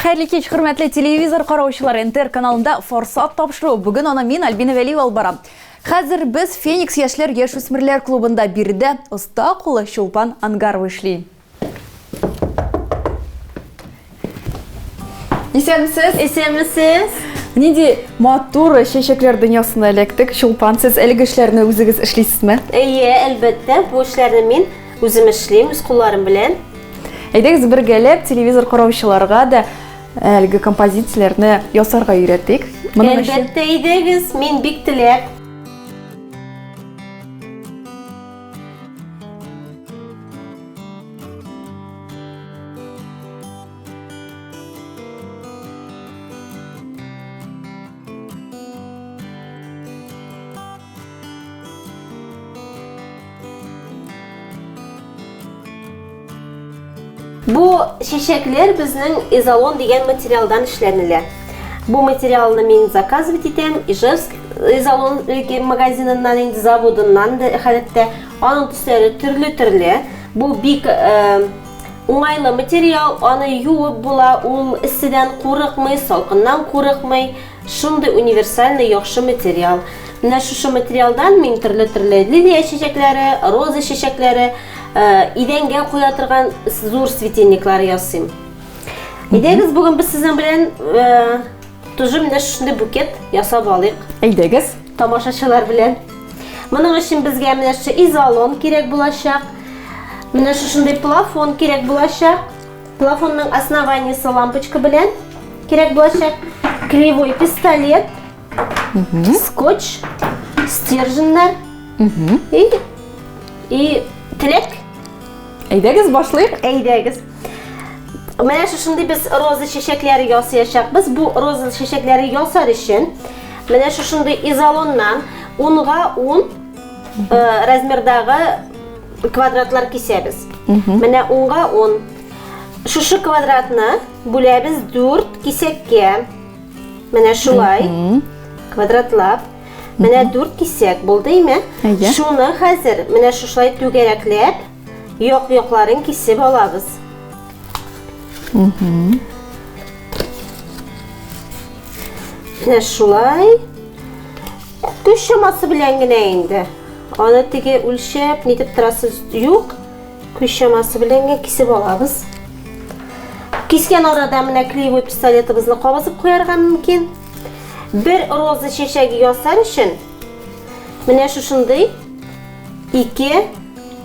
Хәерле кич, хөрмәтле телевизор караучылар. НТР каналында Форсат тапшыру. Бүген аны мин Альбина Вәлиева алып барам. Хәзер без Феникс яшьләр яшүсмерләр клубында биредә оста кулы Чулпан Ангарова эшли. Исәнмесез? Исәнмесез. Нинди матур чәчәкләр дөньясына эләктек. Чулпан, сез әлеге эшләрне үзегез эшлисезме? Әйе, әлбәттә, бу эшләрне мин Үзем эшлим, үз кулларым белән. Әйдәгез бергәләп телевизор караучыларга да әлеге композицияләрне ясарга өйрәтик. Моның өчен Әлбәттә, әйдәгез, мин бик теләп. Бу чәчәкләр безнең изолон дигән материалдан эшләнелә. Бу материалны мин заказ бит итәм, Ижевск изолон магазиныннан инде заводыннан да хәтта аның төсләре төрле-төрле. Бу бик э, уңайлы материал, аны юып була, ул эсседән курыкмый, салкыннан курыкмый, Шундый универсальный яхшы материал. Менә шушы материалдан мин төрле-төрле лилия чәчәкләре, роза чәчәкләре, идәнгә куя торган зур светильниклар ясыйм. Әйдәгез, бүген без сезнең белән тоже менә шундый букет ясап алыйк. Әйдәгез. Тамашачылар белән. Моның өчен безгә менә шушы изолон кирәк булачак. Менә шушындый плафон кирәк булачак. Плафонның основаниесе лампочка белән кирәк булачак. Клеевой пистолет, скотч, стерженьнар и, и теләк. Әйдәгез башлыйк. Әйдәгез. Менә шушындый без роза чәчәкләре ясаячакбыз. Бу роза чәчәкләре ясар өчен менә шушындый изолоннан унга ун э, размердагы квадратлар кисәбез. Менә унга ун. Шушы квадратны бүләбез дүрт кисәккә. Менә шулай квадратлап. Менә дүрт кисәк булды име? Шуны хәзер менә шушылай түгәрәкләп, як-якларын кисеп алабыз. Менә шулай. Көч чамасы белән генә инде. Аны теге үлчәп, нитеп торасы юк. Күз чамасы белән генә кисеп алабыз. Кискән арада менә клеевой пистолетыбызны кабызып куярга мөмкин. Бер роза чәчәге ясар өчен менә шушындый ике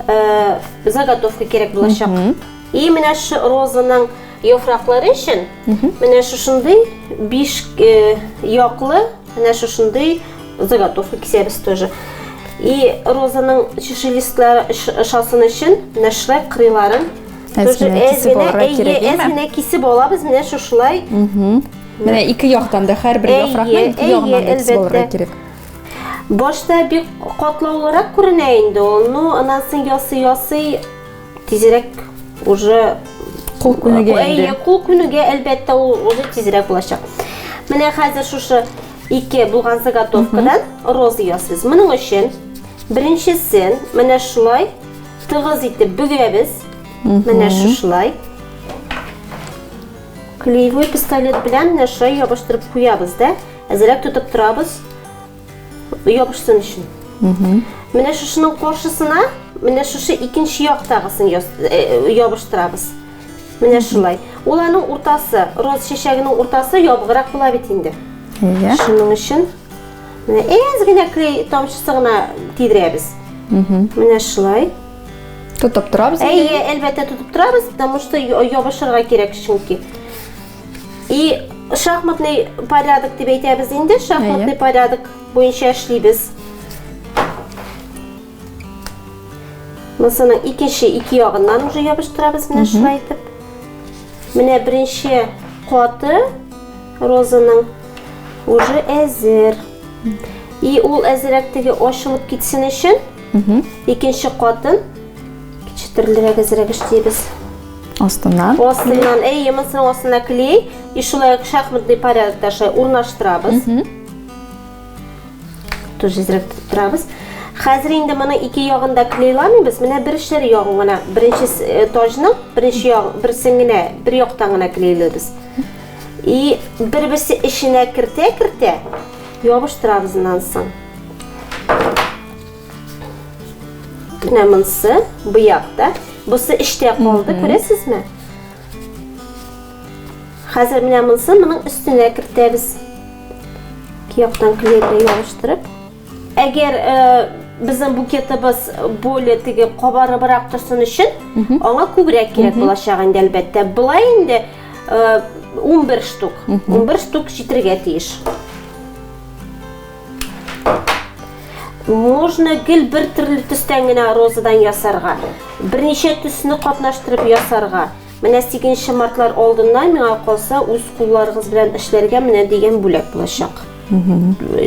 э, заготовка кирәк булачак. И менә шу розаның яфраклары өчен менә шушындый биш э, яклы Менә шушындый заготовка кисәбез тоже. И розаның чиши листлары ошасын өчен менә шулай кырыйларын тоже әз-генә кисеп алабыз. Менә шушылай. Менә ике яктан да һәрбер яфракны ике ягыннан да кисеп алырга кирәк. Башта бик катлаулырак күренә инде ул, но аннан соң ясый-ясый Тизрәк уже кул күнегә инде. Әйе, кул күнегә, әлбәттә, ул уже тизрәк булачак. Менә хәзер шушы ике булган заготовкадан роза ясыйбыз. Моның өчен беренчесен менә шулай тыгыз итеп бөгәбез. Менә шушылай. Клеевой пистолет белән менә шулай ябыштырып куябыз да, әзрәк тотып торабыз. ябышсын өчен. Менә шушының каршысына, менә шушы икенче яктагысын э, ябыштырабыз. Менә шулай. Ул аның уртасы, роз чәчәгенең уртасы ябыграк була бит инде. Иә. Шуның өчен менә әз генә клей тамчысы гына тидерәбез. Менә шулай. Тотып торабыз. Әйе, әлбәттә тотып торабыз, потому что ябышырга кирәк чөнки. И шахматный порядок дип әйтәбез инде, шахматный порядок буенча эшлибез. Мисалның икенче ике ягыннан уже ябыштырабыз менә шулай итеп. Менә беренче каты розаның уже әзер. И ул әзерәк теге ачылып китсен өчен икенче катын кичтерелрәк әзерәк эшлибез. Астыннан. Астыннан, әйе, монысының астына клей. И шулай ук шахматный порядокта шулай урнаштырабыз. Тоже зрәк торабыз. Хәзер инде моны ике ягында клейламыйбыз. Менә бер эшләр ягын гына, беренче э, тажның беренче ягы берсен генә бер яктан гына клейлибез. И бер-берсе эченә кертә-кертә ябыштырабыз аннан соң. Менә монсы быяк та. Бусы эчтә калды, күрәсезме? Хәзер менә монсы моның өстенә кертәбез. Ике яктан клейка ябыштырып. Әгәр э, безнең букетыбыз более теге кабарыбрак торсын өчен, аңа күбрәк кирәк булачак инде әлбәттә. Былай инде 11 э, штук. 11 штук җитергә тиеш. Можно гел бер төрле төстән генә розадан ясарга. Берничә төсне катнаштырып ясарга. Менә 8 мартлар алдыннан миңа калса үз кулларыгыз белән эшләргә менә дигән бүләк булачак.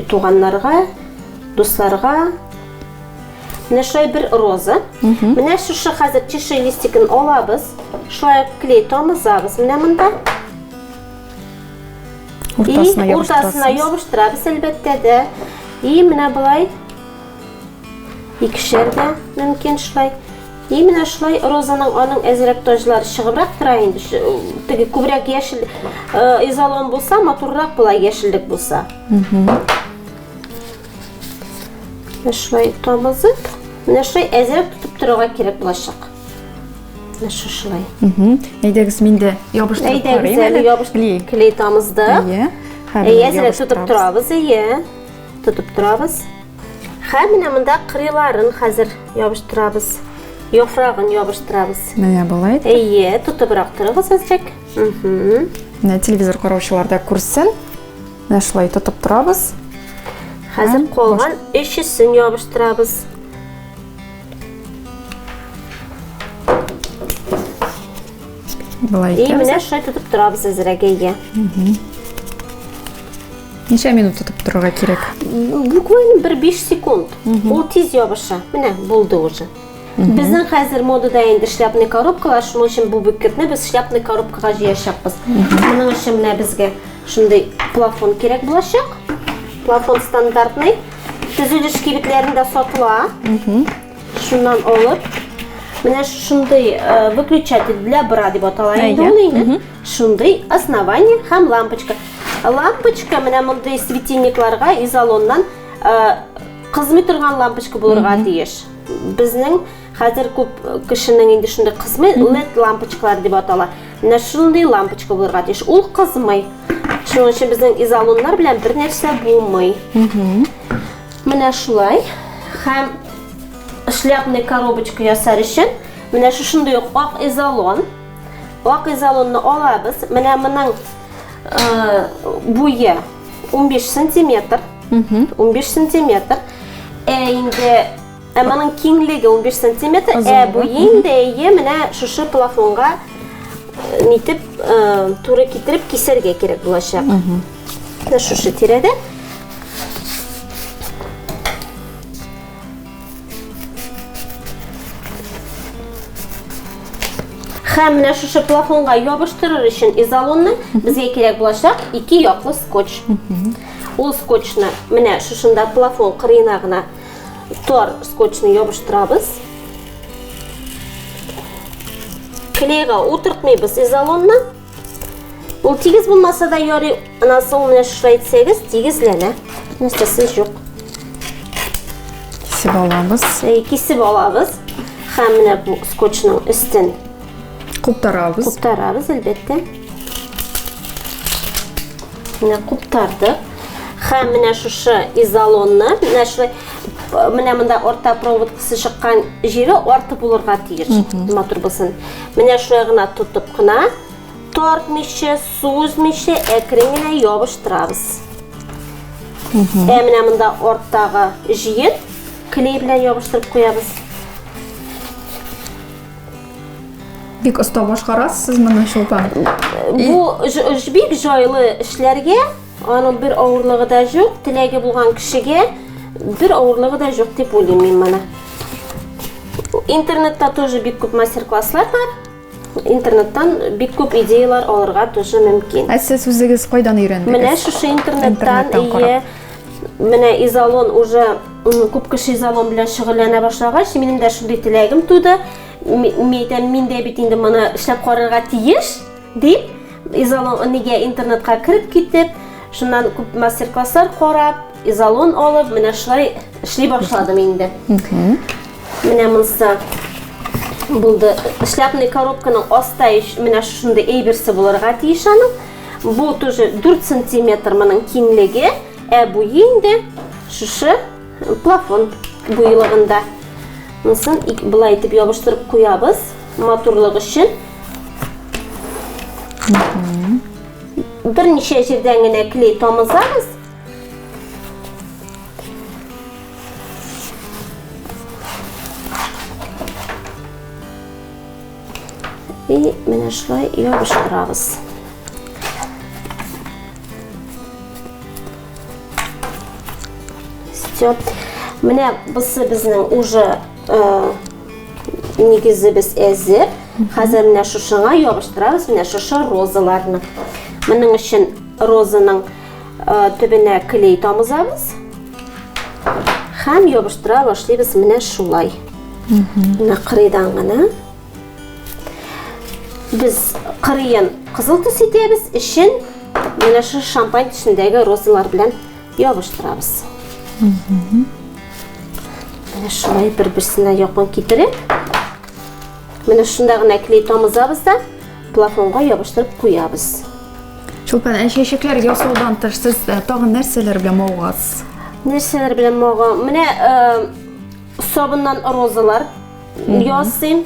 Туганнарга, дусларга. Менә шулай бер роза. Менә шушы хәзер чиши листикын алабыз. Шулай клей тамызабыз менә монда. Уртасына и уртасына ябыштырабыз, әлбәттә дә. И менә болай. Икешәр дә мөмкин шулай. И менә шулай розаның аның әзрәк таҗлары чыгыбрак тора инде. Теге күбрәк яшел э, изолон булса, матуррак була яшеллек булса. Менә шулай тамызып, менә шулай әзрәк тотып торырга кирәк булачак. Менә шушылай. Әйдәгез, мин дә ябыштырып карыйм. Әйдәгез, әле ябыштырып клей тамызды. Әйе. Әйе, әзрәк тотып торабыз, әйе. Тотып торабыз. Хәм менә монда кырыйларын хәзер ябыштырабыз. Яфрагын ябыштырабыз. Менә болай. Әйе, тотыбрак торыгыз әзрәк. Менә телевизор караучылар да күрсен. Менә шулай тотып торабыз. Хәзер калган өчесен ябыштырабыз. Былай И менә шулай тотып торабыз әзрәгәйгә. Ничә минут тотып торырга кирәк? Буквально бер 5 секунд. Ул тиз ябыша. Менә булды уже. Безнең хәзер модада инде шляпный коробкалар, шуның өчен бу бөкетне без шляпный коробкага җыячакбыз. Моның өчен менә безгә шундый плафон кирәк булачак. Плафон стандартный. Төзелеш кибетләрендә сатыла. Шуннан алып, менә шундый э, выключатель для бра дип атала инде Әйе. ул инде. Шундый основание һәм лампочка. Лампочка менә мондый светильникларга изолоннан э, кызмый торган лампочка булырга тиеш. Безнең Хәзер күп кешенең инде шундый кызмый, LED лампочкалар дип атала. Менә шундый лампочка булырга тиеш. Ул кызмый. Шуның өчен безнең изолоннар белән бер нәрсә булмый. Менә шулай. Һәм шляпный коробочка ясар өчен менә шушындый ук ак изолон. Ак изолонны алабыз. Менә моның э, буе 15 сантиметр. 15 сантиметр. Ә инде Ә моның киңлеге унбиш сантиметр, ә буе инде әйе, менә шушы плафонга э, нитеп э, туры китереп кисәргә кирәк булачак. Менә шушы тирәдә. Һәм менә шушы плафонга ябыштырыр өчен изолонны безгә кирәк булачак ике яклы скотч. Ул скотчны менә шушында плафон кырыена гына Тар скотчны ябыштырабыз. Клейга утыртмыйбыз изолонны. Ул тигез булмаса да ярый, анасы ул менә шулай итсәгез, тигезләнә. Нәрсәсе юк. Кисеп алабыз. Кисеп алабыз. Һәм менә бу скотчның өстен Куптарабыз. Куптарабыз, әлбәттә. Менә куптардык. Хәм менә шушы изолонны, менә шулай менә монда орта провод кысы чыккан җире арты булырга тиеш. Матур булсын. Менә шулай гына тотып кына тартмыйча, сүзмичә әкрен генә ябыштырабыз. Ә менә монда арттагы җиен клей белән ябыштырып куябыз. Бик оста башкарасыз сез моны чулпан. Бу бик җайлы эшләргә, аның бер авырлыгы да юк, теләге булган кешегә бер авырлыгы да юк дип уйлыйм мин моны. Интернетта тоже бик күп мастер-класслар бар. Интернеттан бик күп идеялар алырга тоже мөмкин. Ә сез үзегез кайдан өйрәндегез? Менә шушы интернеттан, интернеттан Менә изолон уже күп кеше изолон белән шөгыльләнә башлагач, минем дә шундый теләгем туды. Мин әйтәм, мин дә бит инде моны эшләп карарга тиеш, дип, изолон нигә интернетка кереп китеп, шуннан күп мастер-класслар карап, изолон алып, менә шулай эшли башладым инде. Менә монсы булды. Шляпный коробканың аста менә шундый әйберсе булырга тиеш аның. Бу тоже 4 сантиметр моның киңлеге, ә буе инде шушы плафон буйлыгында. Монысын былай итеп ябыштырып куябыз, матурлык өчен. Берничә җирдән генә клей тамызабыз. И менә шулай ябыштырабыз. Все. Менә бусы безнең уже э, нигезебез әзер. Хәзер менә шушыңа ябыштырабыз менә шушы розаларны. Моның өчен розаның э, төбенә клей тамызабыз. Хәм ябыштыра башлыйбыз менә шулай. Менә кырыйдан гына. Без кырыен кызыл төс итәбез, эчен менә шу шампань төсендәге розалар белән ябыштырабыз. Менә шулай бер-берсенә якын китереп, менә шунда гына клей тамызабыз да, Плафонга ябыштырып куябыз. Чулпан, ә чәчәкләр ясаудан тыш сез э, тагын нәрсәләр белән мавыгасыз? Нәрсәләр белән мага? Менә э, сабыннан розалар ясыйм.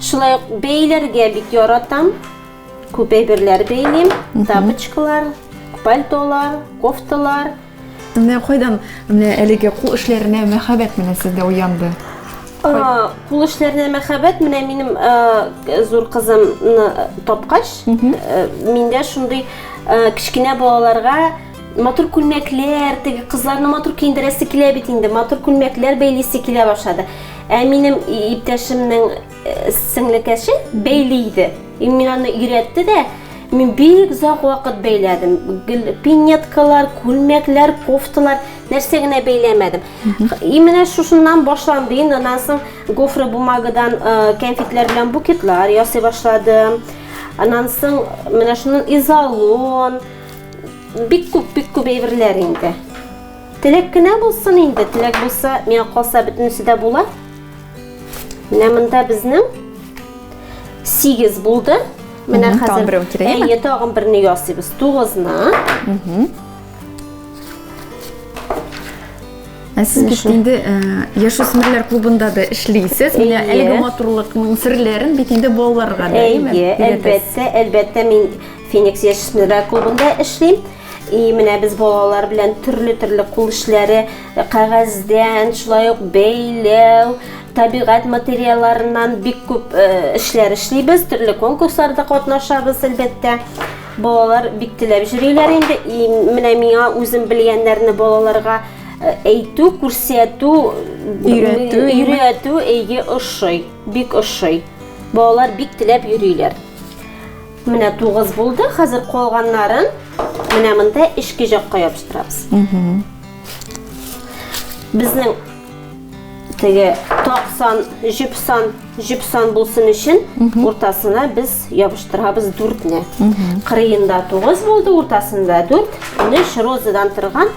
Шулай ук бәйләргә бик яратам. Күп әйберләр бәйлим. Тапочкалар, пальтолар, кофталар. Менә кайдан менә әлеге кул эшләренә мәхәббәт менә сездә уянды? Кул эшләренә мәхәббәт менә минем зур кызымны тапкач, миндә шундый кечкенә балаларга матур күлмәкләр, теге кызларны матур киендерәсе килә бит инде, матур күлмәкләр бәйлисе килә башлады. Ә минем иптәшемнең Сеңлекәшем бәйли иде. Мин аны өйрәтте дә, мин бик озак вакыт бәйләдем. Гел пинеткалар, күлмәкләр, кофталар, нәрсә генә бәйләмәдем. И менә шушыннан башланды инде. Аннан соң гофра бумагадан кәнфитләр белән букетлар ясый башладым. Аннан соң менә шуннан изолон, бик күп, бик күп әйберләр инде. Теләк кенә булсын инде, теләк булса, миңа калса бөтенесе дә була. Менә монда безнең 8 булды. Менә хәзер тагын берәү кирәк. Әйе, тагын берне ясыйбыз. 9-ны. Ә сез бит инде яшүсмерләр клубында да эшлисез. Менә әлеге матурлыкның серләрен бит инде балаларга да, әйме? Әйе, әлбәттә, әлбәттә мин Феникс яшүсмерләр клубында эшлим. И менә без балалар белән төрле-төрле кул эшләре Кәгазьдән, шулай ук бәйләү, табигать материалларыннан бик күп эшләр эшлибез, төрле конкурсларда катнашабыз, әлбәттә. Балалар бик теләп йөриләр инде. И менә миңа үзем белгәннәрне балаларга әйтү, күрсәтү, өйрәтү, өйрәтү, әйе, ошый, бик ошый. Балалар бик теләп йөриләр. Менә тугыз булды, хәзер калганнарын менә монда эчке жакка ябыштырабыз. Безнең теге токсан, җипсан, җипсан булсын өчен уртасына без ябыштырабыз дүртне. Кырыенда тугыз булды, уртасында дүрт, менә розадан торган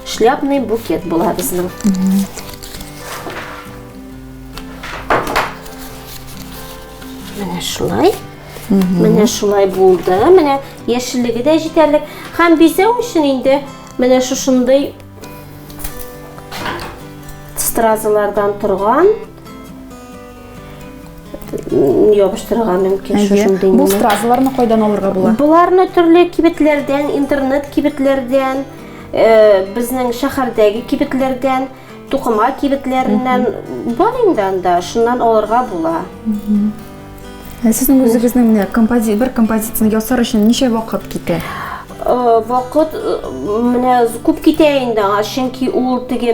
шляпный букет була безнең. Менә шулай. Менә шулай булды. Менә яшеллеге дә җитәрлек. Һәм бизәү өчен инде менә шушындый стразалардан торган ябыштырырга мөмкин шушындый. Бу стразаларны кайдан алырга була? Буларны төрле кибетләрдән, интернет кибетләрдән, э, безнең шәһәрдәге кибетләрдән, тукыма кибетләреннән бар инде анда, шуннан алырга була. Сезнең үзегезнең менә компози бер композицияне ясар өчен ничә вакыт китә? Э, вакыт э, менә күп китә инде аңа чөнки ул теге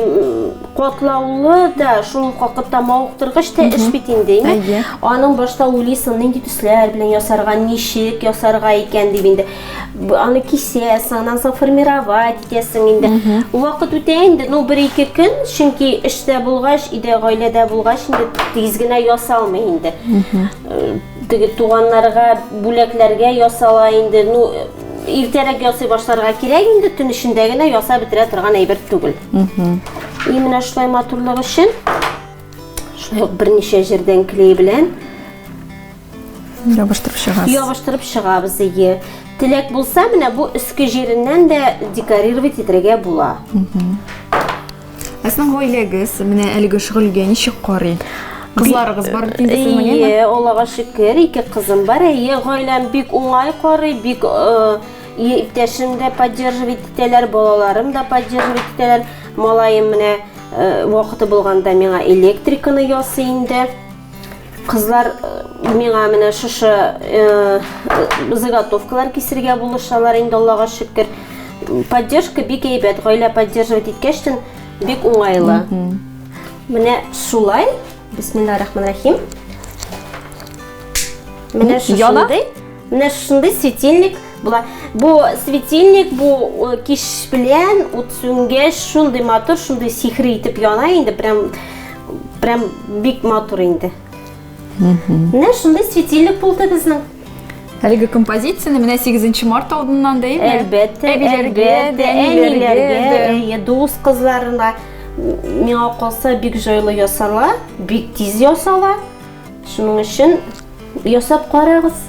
катлаулы да шул ук вакытта мавыктыргыч та эш бит инде әйе аның башта уйлыйсың нинди төсләр белән ясарга ничек ясарга икән дип инде аны кисәсең аннан соң формировать итәсең инде вакыт үтә инде ну бер ике көн чөнки эштә булгач өйдә гаиләдә булгач инде тиз генә ясалмый инде теге туганнарга бүләкләргә ясала инде ну иртәрәк ясый башларга кирәк инде төн эчендә генә ясап бетерә торган әйбер түгел и менә шулай матурлык өчен шулай ук берничә җирдән клей белән Ябыштырып чыгабыз. Ябыштырып чыгабыз, ие. Теләк булса, менә бу өске җиреннән дә декорировать итергә була. Ә сезнең гаиләгез менә әлеге шөгыльгә ничек карый? Кызларыгыз бар бит инде сезнең, әйеме? Ие, Аллага шөкер, ике кызым бар. Әйе, гаиләм бик уңай карый, бик э, и- иптәшем дә поддерживать итәләр, балаларым да поддерживать итәләр. Малаем менә э, вакыты булганда миңа электриканы ясый инде. Кызлар миңа менә шушы заготовкалар кисергә булышалар инде, Аллага шөкер. Поддержка бик әйбәт, гаилә поддерживать иткәчтен бик уңайлы. Менә шулай, бисмиллаһ рахман рахим. Менә шушындый. Менә шундый светильник була. Бу светильник бу э, киш белән ут сүнгәч шундый матур, шундый сихри итеп яна инде, прям прям бик матур инде. Менә шундый светильник булды безнең. Әлеге композицияне менә 8 март алдыннан да инде. Әлбәттә, әлбәттә, әниләргә, әйе, дус кызларына миңа калса бик җайлы ясала, бик тиз ясала. Шуның өчен ясап карагыз.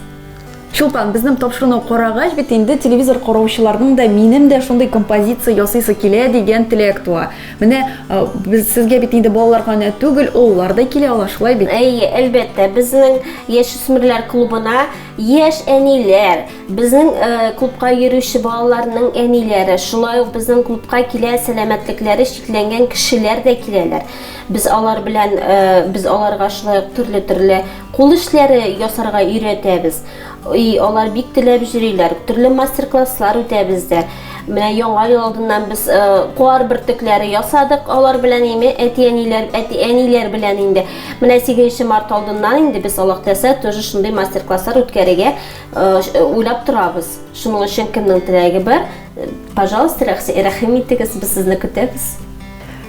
Чулпан, безнең тапшыруны карагач бит инде телевизор караучыларның да минем дә шундый композиция ясыйсы килә дигән теләк туа. Менә э, без сезгә бит инде балалар гына түгел, олылар да килә ала, шулай бит? Әйе, әлбәттә, безнең яшүсмерләр клубына яшь әниләр, безнең э, клубка йөрүче балаларның әниләре, шулай ук безнең клубка килә сәламәтлекләре чикләнгән кешеләр дә киләләр. Без алар белән без аларга шулай ук төрле-төрле кул эшләре ясарга өйрәтәбез. И, алар бик теләп җөриләр. Төрле мастер-класслар үтә бездә. Менә Яңа ел алдыннан без куар бөртекләре ясадык алар белән име, әти-әниләр, әти-әниләр белән инде. Менә 8 нче март алдыннан инде без Аллаһтәсә тоже шундый мастер-класслар үткәрергә уйлап торабыз. Шуның өчен кемнең теләге бар, пожалуйста, рәхим итегез, без сезне көтәбез.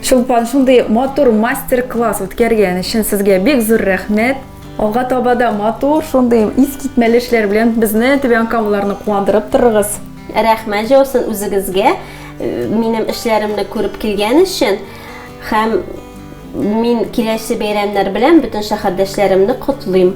Чулпан, шундый матур мастер-класс үткәргән өчен сезгә бик зур рәхмәт. Алга таба да матур, шундый искитмәле эшләр белән безне Төбән Камаларны куандырып торыгыз. Рәхмәт җаусын үзегезгә э, минем эшләремне күреп килгән өчен һәм мин киләсе бәйрәмнәр белән бөтен шәһәрдәшләремне котлыйм.